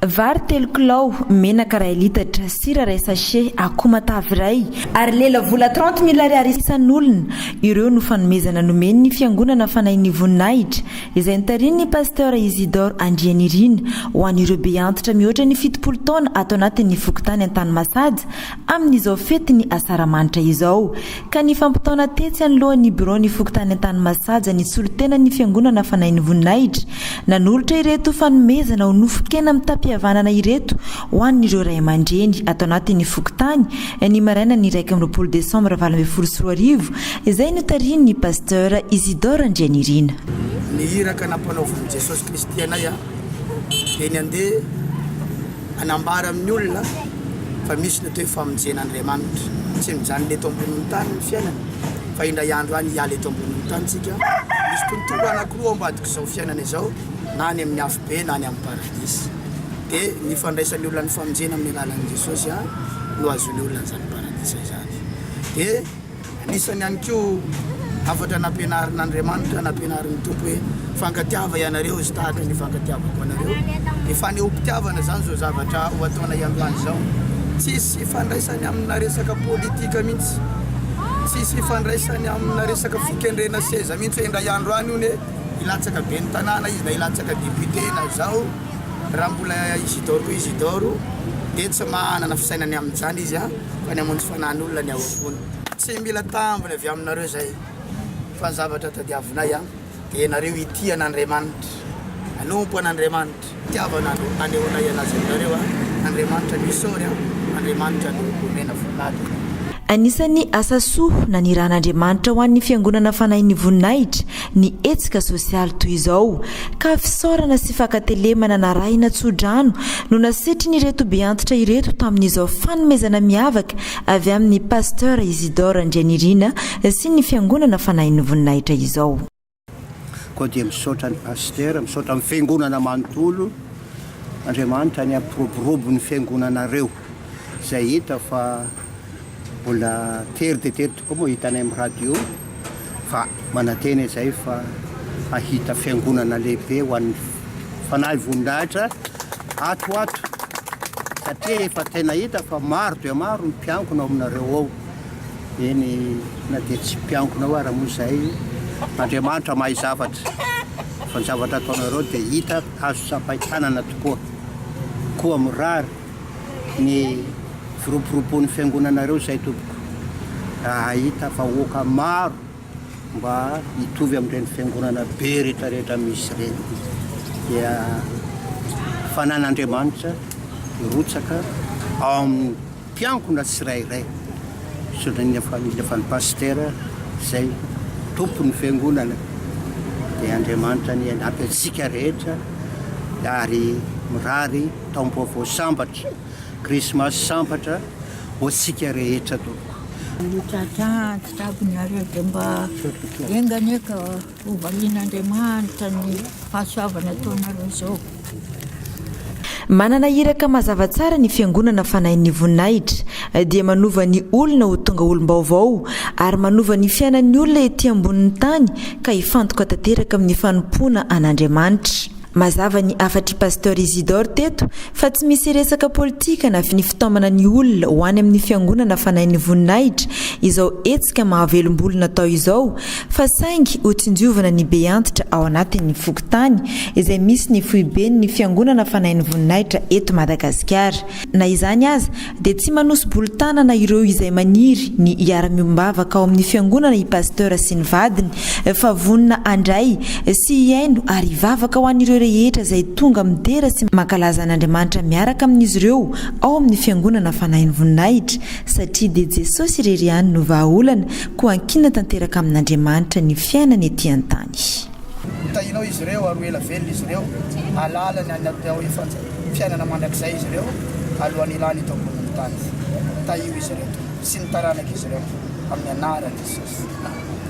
Vary telo kilao, menaka iray litatra, sira iray sachet, akoho matavy iray, ary lela vola trente mille ariary isan'olona, ireo no fanomezana nomen'ny Fiangonana Fanahin'ny Voninahitra, izay notarihin'ny Pasteur Isidore Andrianirina, ho an'ireo beantitra mihoatra ny fitopolo taona ato anatin'ny fokontany Antanimasaja, amin'izao fetin'ny Asaramanitra izao. Ka nifampitaona tetsy anoloan'ny biraon'ny fokontany Antanimasaja ny solontenan'ny Fiangonana Fanahin'ny Voninahitra, nanolotra ireto fanomezana ho nofon-kena mitam-pihavanana ireto ho an'ireo ray aman-dreny ato anatin'ny fokontany, ny marainan'ny iraika amby roapolo desambra valo ambin'ny folo sy roa arivo, izay notarihin'ny Pasteur Isidore Andrianirina. Ny iraka nampanaovin'i Jesosy Kristy anay, dia ny handeha. Hanambara amin'ny olona fa misy ny atao hoe famonjen'Andriamanitra. Tsy mijanona eto ambonin'ny tany ny fiainana fa indray andro any hiala eto ambonin'ny tany isika. Misy tontolo anankiroa ao ambadik'izao fiainana izao, na any amin'ny afobe na any amin'ny paradisa. Dia ny fandraisan'ny olona ny famonjena amin'ny alalan'i Jesosy ihany no ahazoan'ny olona an'izany paradisa izany. Dia. Anisany ihany koa hafatra nampianarin'Andriamanitra, nampianarin'ny Tompo hoe fankatiava ianareo izy tahaka ny fankatiavako anareo. Ny fanehoam-pitiavana izany izao zavatra ho ataonay androany izao. Tsisy ifandraisany amina resaka politika mihitsy, tsisy ifandraisany amina resaka fikendrena seza mihitsy hoe indray andro any hono e, hilatsaka ben'ny tanàna izy na hilatsaka député na izao. Raha mbola Isidoro Isidoro dia tsy manana fisainana amin'izany izy an! fa ny hamono fanan'olona ny ao am-pony. Tsy mila tambiny avy aminareo izay, fa ny zavatra tadiavinay dia ianareo hitia an'Andriamanitra, hanompo an'Andriamanitra. Fitiavana no anehoanay anazy aminareo, Andriamanitra no isaory, Andriamanitra no omena voninahitra. Anisan'ny asa soa nanirahan'Andriamanitra ho an'ny Fiangonana Fanahin'ny Voninahitra ny hetsika sosialy toy izao ka fisaorana sy fankatelemana narahina tso-drano no nasetrin'ireto beantitra ireto tamin'izao fanomezana miavaka avy amin'ny Pasteur Isidore Andrianirina sy ny Fiangonana Fanahin'ny Voninahitra izao. Koa dia misaotra ny Pasitera, misaotra ny Fiangonana manontolo, Andriamanitra ny hampiroborobo ny Fiangonanareo. Izay hita fa mbola tery dia tery tokoa moa hitanay amin'ny radio fa manantena izay fa hahita fiangonana lehibe ho an'ny Fanahy Vonindahitra ato ho ato satria efa tena hita fa maro dia maro ny mpiangona ao aminareo ao. Eny na dia tsy mpiangona ao ara moa izay Andriamanitra mahay zavatra fa ny zavatra ataonareo dia hita azo tsapain-tanana tokoa. Koa mirary ny firoboroboan'ny fiangonanareo izay tompoko raha hahita vahoaka maro mba hitovy amin'ireny fiangonana be rehetrarehetra misy ireny dia fanan'Andriamanitra hirotsaka ao amin'ny mpiangona tsirairay sodrin'ny famille fa ny pasitera izay tompon'ny fiangonana dia Andriamanitra ny anampy antsika rehetra ary mirary Taombaovao sambatra, krismasy sambatra ho antsika rehetra tompoko. Io tantara tsy avy nareo dia mba enga anie ka hovalian'Andriamanitra ny fahasoavana ataonareo zao. Manana iraka mazava tsara ny Fiangonana Fanahin'ny Voninahitra, dia manova ny olona ho tonga olom-baovao ary manova ny fiainan'ny olona ety ambonin'ny tany ka hifantoka tanteraka amin'ny fanompoana an'Andriamanitra. Mazava ny hafatr'i Pasteur Isidore teto fa tsy misy resaka politika na finifitaomana ny olona ho any amin'ny fiangonana fanahin'ny voninahitra izao hetsika mahavelom-bolo natao izao fa saingy ho tsinjovana ny be antitra ao anatin'ny fokontany izay misy ny foiben'ny fiangonana fanahin'ny voninahitra eto Madagasikara. Na izany aza dia tsy manosi-bolo tanana ireo izay maniry ny hiara-miombavaka ao amin'ny Fiangonana i Pasteur sy ny vadiny fa vonona handray sy hihaino ary hivavaka ho an'ireo rehetra izay tonga midera sy mankalaza an'Andriamanitra miaraka amin'izy ireo ao amin'ny Fiangonana Fanahin'ny Voninahitra satria dia Jesosy irery ihany no vahaolana koa ankinina tanteraka amin'Andriamanitra ny fiainana ety an-tany. Hotahinao izy ireo ary ho ela velona izy ireo, hahalala ny any am-peo efa. fiainana mandrakizay izy ireo alohan'ny hilany eto ambonin'ny tany. Tahio izy ireo, Tompo, sy ny taranak'izy ireo, amin'ny anaran'i Jesosy.